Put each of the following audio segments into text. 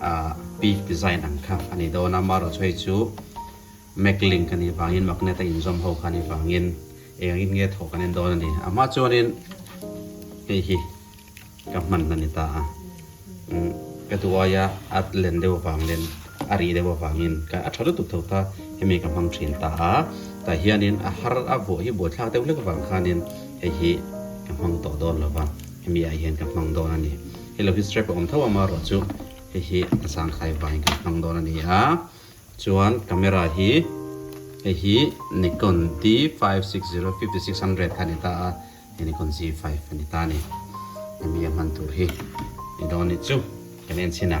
Ah peak design ang kha a ni dawn a, Maro Choi chu Mac Link a nih vangin magnet a inzawm ho kha a nih vangin eng in nge thawh kan en dawn a ni. Amah chuanin hei hi ka hman a ni ta a, umm ka duh aia a len deuh avang lem a rih deuh avangin ka a tha lutuk tho ta, hemi ka hmang thin ta a, tah hianin a har a vuah hi buaithlak deuh hlek avang khanin hei hi ka hmang tawh dawn lo va, hemi ah hian ka hmang dawn a ni. Hei lo hi strap a awm tho a maruah chu hei hi zangkhai vaiin kan hmang dawn a ni a, chuan camera hi hei hi Nikon D five six zero fifty six hundred kha a ni ta a, hei Nikon Z five a ni ta a ni, hemi a hman tur hi ni dawn a nih chu kan en chhin a.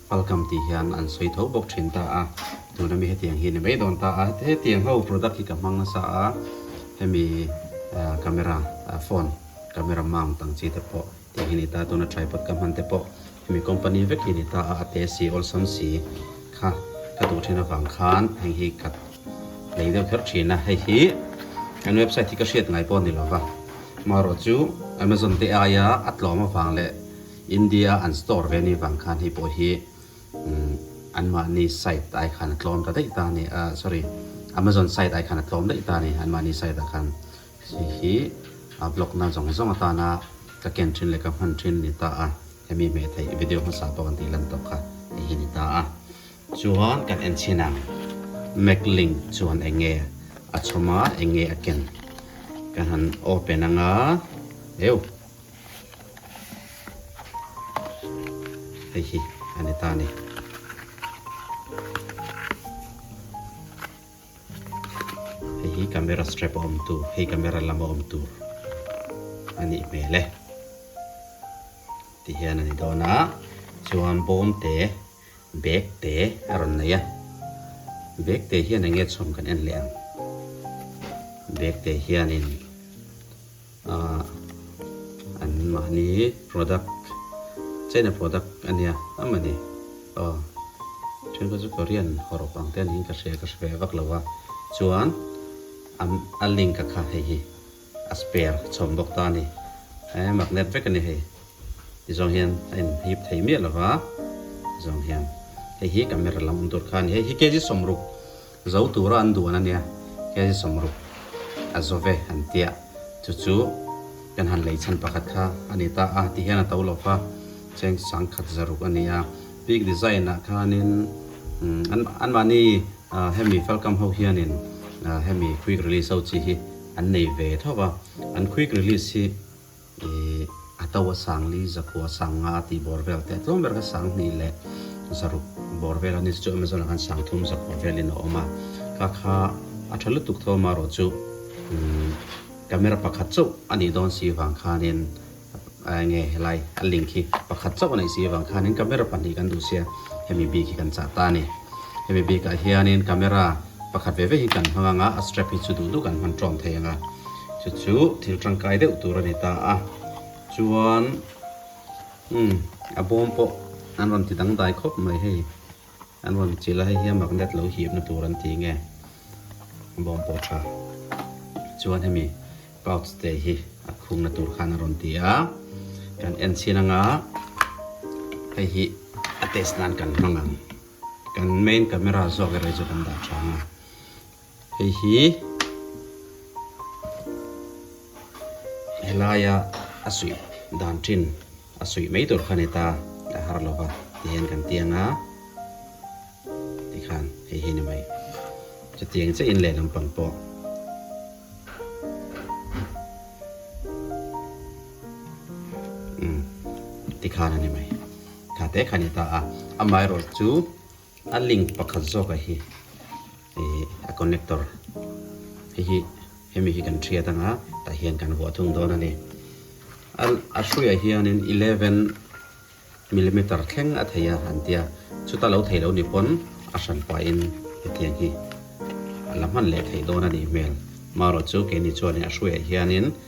Welcome tih hian an sawi tho bawk thin ta a, tuna mi hetiang hi ni mai dawn ta a, hetiang ho product hi ka hmang nasa a, hemi camera phone camera mount ang chi te pawh tih hi ni ta a, tuna tripod ka hman te pawh hemi company vek hi ni ta a, a teh si awlsam si kha ka duh thin avang khan heng hi ka nei deuh kher thin a, hei hi an website hi ka hriat ngai pawh a ni lo va, maw rawh chu Amazon te aia a tlawm avang leh. India an store ve ni vang khan hei pawh hi an mahni site ai khan a tlawm ta daih ta a ni a, sorry Amazon site ai khan a tlawm daih ta a ni, an mahni site ah khan hei hi a block na zawng zawng atana ka ken thin leh ka hman thin a ni ta a, hemi hmeh theih video hmasa pawh kan tih lan tawk kha hei hi a ni ta a. Chuan kan en chhin ang Mac link chuan eng nge a chhawm a, eng nge a ken ka han open ang a, eu. hei hi a ni ta ni hei hi camera strap a awm tur hei camera lam a awm tur a nih hmel e ti hian a ni dawn a chuan bawm te bag te a rawn nei a bag te hian enge chhawm kan en leh ang bag te hianin Ahh an mahni product china product ania amani aw then pawh chu korean haw rawk ang te niin ka hria ka hre ve vak lo a chuan an a link a kha hei hi a spare a chhawm bawk ta a ni eee magnet vek a ni hei ti zawng hian a in hip thei miah lo va zawng hian hei hi camera lam awm tur kha a ni hei hi kg sawm ruk Zo tura an duan ania, khe hi sawm ruk a zo ve an tia, chu chu kan han lei chhan pakhat kha a ni ta a, tihian a to lo va, cheng sang khat za ruk a ni a. Peak Design ah khanin an mahni hemi felkam ho hianin hemi Quick Release ho chi hi an nei ve tho va, an Quick Release hi, I Ato a sang li, Zakua a sang nga tih bawr vel te a tlawm ber kha sang hnih leh zaruk bawr vel a ni. Chu Amazon ah khan sang thum Zakua velin a awm a. Ka kha a tha lutuk thawm a rawh chu camera pakhat chauh a nih dawn si vang khanin enge helai a link hi pakhat chauh a neih si vang khanin camera pahnih kan duh sia hemi bik hi kan chah ta a ni. Hemi bik ah hianin camera pakhat ve ve hi kan hmang anga a strap hi chu duh duh kan hman tawm thei ang a. chu chu thil tangkai deuh tur a ni ta a chuan umm a bawm pawh an rawn ti dang dai khawp mai hei an rawn chilh a hei hian magnet lo hipna tur an ti nge bawm pawh tha chuan hemi pouch te hi a khungna tur khan a rawn ti a kan en chhin anga hei hi a test nan kan hmang ang kan main camera zawk erawh hi chu kan dah tha ang a Hei hi helaia a suih dan thin a suih mai tur khan heta a har lova ti hian kan ti anga tikhan hei hi ni mai chutiang che in lehlam pang pawh tikhan a ni mai tlate khan heta a amaherawhchu. A link pakhat zawkah hi ih a connector hei hi hemi hi kan hriat anga tah hian kan vuah thung dawn a ni. A a hruiah hianin eleven millimeter thleng a thei a an tia, chuta lo thei lo ni pawn a hran pahin hetiang hi a la hman leh thei dawn a nih hmel. Marawh chu keini chuan a hruiah hianin.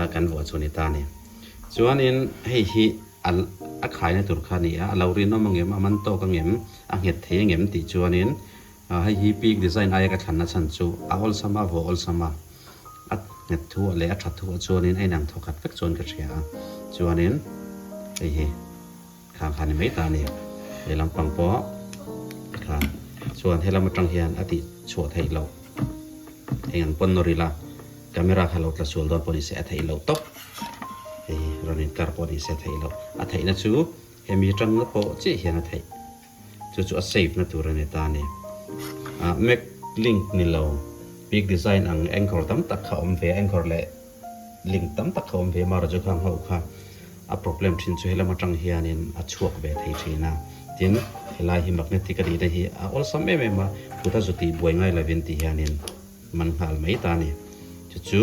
a kan vuah chu a ni ta a ni. Chuanin hei hi a a khaina tur kha a ni a, a lo rinawm a ngem, a man tawk a ngem, a nghet thei a ngem tih chuanin hei hi peak design aia ka thlanna chhan chu a awlsam a, vawh awlsam a, a nghet thu ah leh a tha thu ah chuanin a inang thaw khat vek chuan ka hria a, chuanin hei hi. Khang kha ni mai ta nia, he lam pang pawh ka tha chuan he lam atang hian a tih chhuah theih loh eng an pawn nawr ila, camera kha lo tla sual dawn pawh ni se a theih loh tawp, hei rawn in kar pawh ni se a theih loh, a theih na chu he mi tan na pawh chiah hian a theih, chu chu a save na tur a ni ta nia, ah mac link ni lo, big design ang anchor tam tak kha awm ve a, anchor leh Link tam tak kha awm ve Mara Jokhang ho kha a problem thin chu helam atang hianin a chhuak ve thei thin a. Tin, helai hi magnetic a nihna hi a awlsam em em a, kuta zuti buai ngai lovin ti hianin man nghal mai ta a ni. Chu chu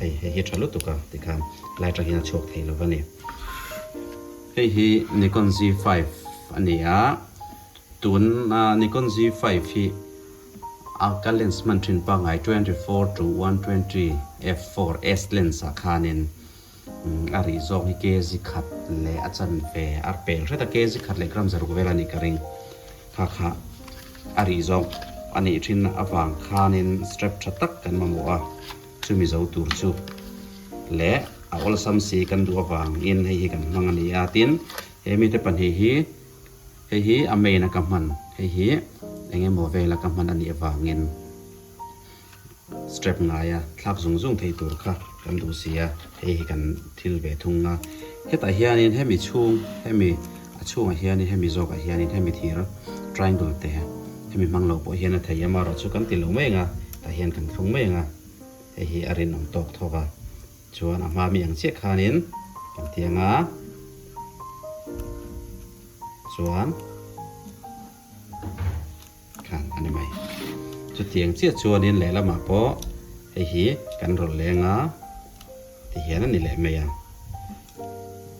hei hei hi tha lutuk a ti khan helai atangin a chhuak thei lova ni. Hei hi Nikon Z5 a ni a, tuna Nikon Z5 hi. Alka lens hman thin pangngai twenty four to one twenty f four s lens ah khanin a rih zawng hi kg khat leh a chanve a pel hret a, kg khat leh gram zaruk vel a nih ka ring. Kha kha a rih zawng a nih thin avang khanin strap tha tak kan mamawh a, chu mizo tur chu leh a awlsam si kan duh avangin hei hi kan hmang a nia, tin he mite pahnih hi Hei hi a main a ka hman, hei hi eng emaw vel a ka hman a nih avangin strap ngaia thlak zung zung thei tur kha kan duh si a, hei hi kan thil ve thung a. Hetah hianin hemi chhung, hemi a chhungah hianin hemi zawkah hianin hemi thir triangle te hemi hmang lo pawh hian a thei a, marawh chu kan ti lo mai ang a, tah hian kan thlung mai ang a, hei hi a rinawm tawk tawk a, Chuan a hma mi ang chiah khanin kan ti anga, chuan khan a ni mai. Chutiang chiah chuanin lehlamah pawh hei hi kan rawn leng a ti hian a ni leh mai a.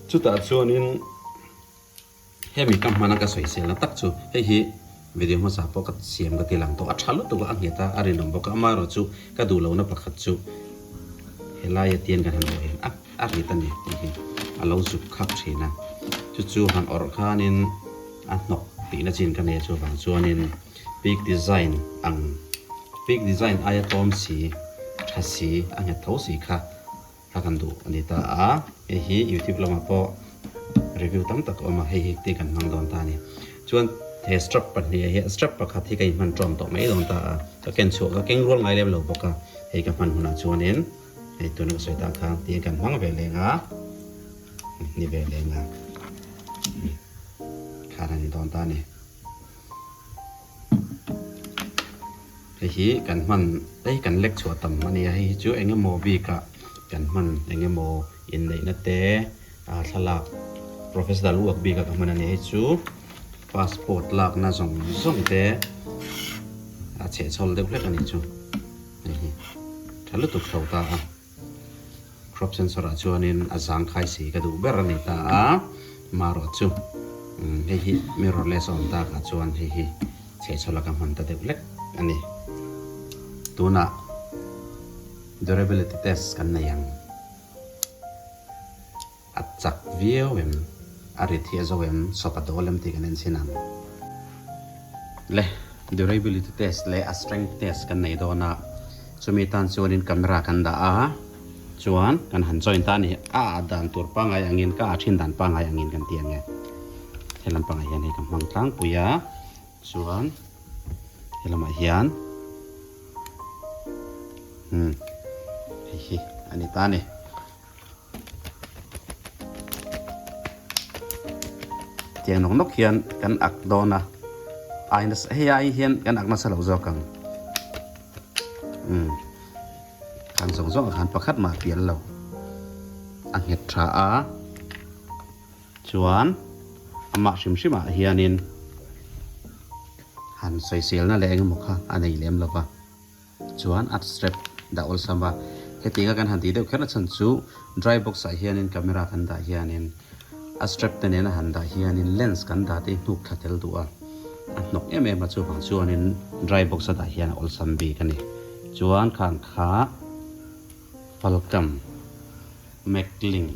Chutah chuanin. Hemi ka hmana ka sawisel na tak chu hei hi video hmasa pawh ka siam ka ti lang tawh a tha lutuk a a ngheta a rinawm bawk a amaherawh chu ka duh lohna pakhat chu helai atian kan han awrh hian a a rit a ni tih hi a lo zuk khap thin a chu chu han awrh khanin a hnawk tihna chin ka nei chuvang chuanin peak design ang peak design aia tawm si tha si a nghet tho si kha a kan duh a ni ta a, hei hi youtube lamah pawh review tam tak a awm a, hei hi ti kan hmang dawn ta a ni. Chuan he strap pahnih ah hian strap pakhat hi ka in hman tawm tawh mai dawn ta a, ka ken chhuah ka keng rual ngai lem lo bawk a, hei ka hman hunah chuanin hei tuna ka sawi tan kha tiin kan hmang ve leng a, ni ve leng a, khar a ni dawn ta a ni. Hei hi kan hman ei kan lek chhuah tam a ni a, hei hi chu eng emaw bikah kan hman eng emaw inneihna te ah thlalak process dal uak bikah ka hman a ni. Hei chu passport lakna zawng zawng te a chhehchhawl deuh hlek a ni chu, hei hi tha lutuk tho ta a. Crop sensor-ah chuanin a zangkhai si ka duh ber a ni ta a, marawh chu hei hi mirrorless a awm takah chuan hei hi chhehchhaw laka hman ta deuh lek a ni. Tunah durability test kan nei ang. A chak viau em? A rit hi a zo em? Sawp a dawl em tih kan en chin ang. Le, durability test leh a strength test kan nei dawn a, chumi tan chuanin camera kan dah a, chuan kan han join ta a ni. A ah dan tur pangai angin ka ah thin dan pangai angin kan ti ange. He lam pangah hian hei ka hmang tlangpui a, chuan he lamah hian umm hei hi a ni ta a ni. Tiang nawk nawk hian kan ak dawn a, ai nasa hei ai hian kan ak nasa lo zawk ang. Um, khang zawng zawng khan pakhat mah pial lo a nghet tha a. Chuan amah hrim hrim ah hianin han sawi sel na leh eng emaw kha a nei lem lo va. Chuan a strap dah awlsam a, hetiang a kan han tih deuh kher nachhan chu dry box ah hianin camera kan dah hianin a strap te nen a han dah hianin lens kan dah te hi hnuk thla tel duh a, a hnawk em em a chuvang chuanin dry box a dah hian a awlsam bik a ni. Chuan khang kha Falcam, Macklin.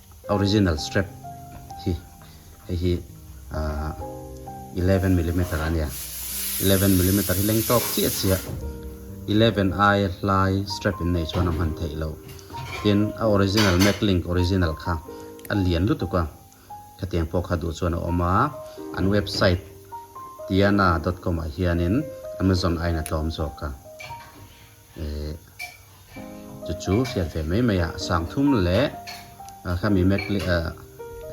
Original strap hi hei hi ahh eleven millimeter a nia eleven millimeter hi leng tawk chiah chiah eleven ai hlai strap in nei chuan a hman theih lo tin a original macklink original kha a lian lutuk a khatiang pawh kha duh chuan a awm a an website tiana dot com ah hianin amazon a in a tlawm zawk a. Eh, chu chu hriat ve mai mai a, sang thum leh a khami mek leh a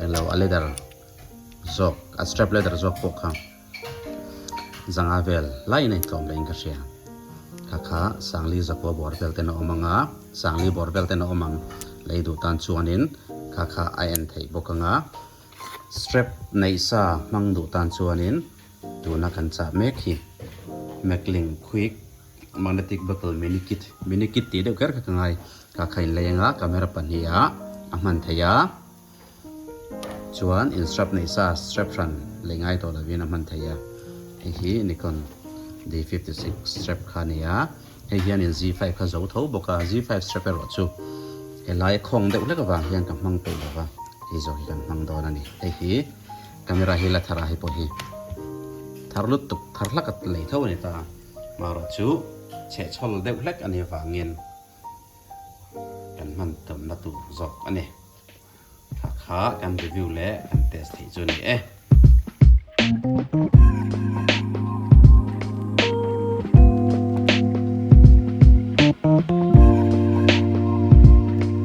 eng lo a leather zawk a strap leather zawk pawh kha zanga vel lai in a intlawm leh in ka hria kha kha sangli zakua buar vel ten a awm anga sangli bawr vel ten a awm ang lei duh tan chuanin kha kha a en thei bawk anga strap nei sa hmang duh tan chuanin tuna kan chah mek hi mekling quick Magnetic bottle mini kit, mini kit tih deuh kher kha ka ngai, ka kha inlei anga camera pahniha a hman thei a, chuan in strap nei sa strap hran lei ngai tawh lovin a hman thei a, hei hi Nikon D fifty six strap kha a ni a, hei hian in Z five kha zo tho bawk a, Z five strap erawh chu helai khawng deuh hlek avang hian ka hmang peih lova, hei zawk hi kan hmang dawn a ni, hei hi camera hi la thar a, hei pawh hi thar lut tuk thar hlaka lei tho a ni ta a. Marawh chu chhe chhawl deuh hlek a nih avangin kan hman tumna tur zawk a ni. Hakha kan review leh kan test theih chu a ni e.